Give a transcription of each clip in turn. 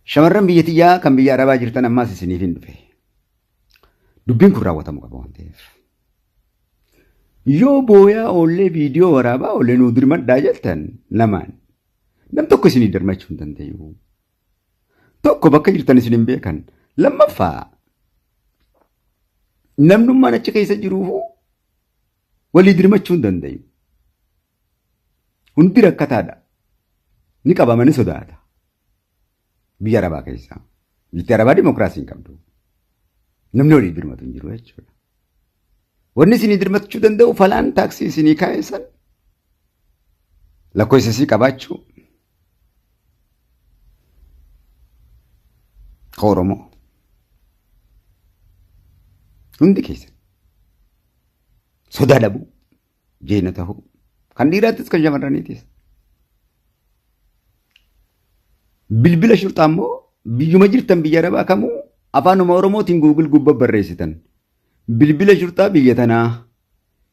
Shamarran biyya tiyyaa kan biyya Arabaa jirtan ammaas isiniifin dhufe. Dubbiin kun raawwatamu qaba waan ta'eef. Yoo booyaa oollee viidiyoo waraabaa oollee nuu dirmadhaa jettan lamaan nam tokko isinii dirmachuu hin danda'u. Tokko bakka jirtan isin hin beekan. Lammaffaa namnummaan achi keessa jiruufu walii dirmachuu hin danda'u. Hundi rakkataadha. Ni qabama ni sodaata. Biyya Arabaa keessaa. Biyyi Arabaa dimookiraasii hin qabdu. Namni walii dirmatu hin jiru jechuudha. Wanni isinii dirmachuu danda'u falaan taaksii isinii kaa'eessan lakkoofsa isii qabaachuu ka Oromoo hundi keessan sodaa dhabuu jeena ta'uu kan dhiiraattis kan shamarraniitis. Bilbila shurxaa immoo biyyuma jirtan biyya arabaa kamuu afaanuma oromootiin guugil gubba barreessitan. Bilbila shurxaa biyya tanaa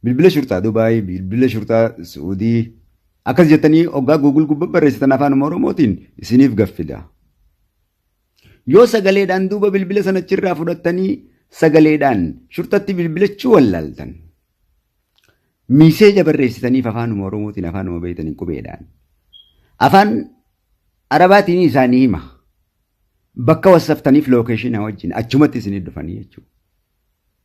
bilbila shurxaa Dubaay bilbila shurxaa Suudii akkas jettanii oggaa guugil gubba barreessitan afaanuma oromootiin isiniif gaffida. Yoo sagaleedhaan duuba bilbila sana achirraa fudhattanii sagaleedhaan shurxatti bilbilachuu wallaaltan. Miiseeja barreessitaniif afaanuma Oromootiin afaanuma beektaniin qubeedhaan. Afaan Arabaatiin isaanii hima. Bakka wassaftaniif lookeeshinaa wajjin achumatti isinii dhufanii jechuudha.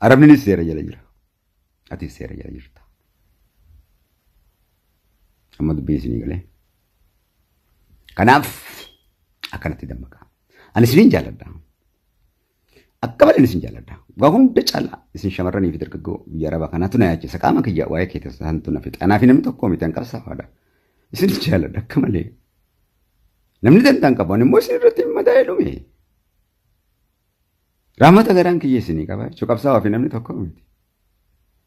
Arabninis seera jala jira. Atis seera jala jirta. Amma dubbiin isinii galee. Kanaaf akkanatti dammaqaa. Ani isiniin jaalladha. Akka malee isin jaalladha. Waa hunda caalaa isin shamarranii fi dargaggoo biyya arabaa kanaatu na yaachisa. Qaama kiyya waa'ee kee taasisantu na fixa. Anaa fi namni tokko miti an qabsaafaadha. Isin jaalladha akka malee. Namni dantaan qabu ani immoo isin irratti mataa dhume. Rahmata garaan kiyya isinii qaba jechuun qabsaa'aa fi namni tokko miti.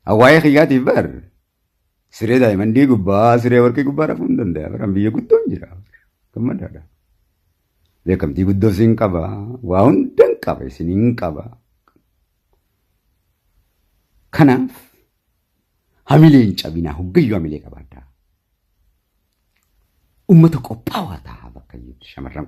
Hawaayee kiyyaatiif bar siree daa'imandii gubbaa siree warqii gubbaa rafuu hin danda'a. Baraan biyya guddoon jira. Gammadaadha. Beekamtii guddoo isin qaba. Waa hundan qaba isin hin qaba. Kanaaf hamilee hin cabinaa hoggayyuu hamilee qabaadhaa. Uummata qophaawaa ta'a bakka shamarran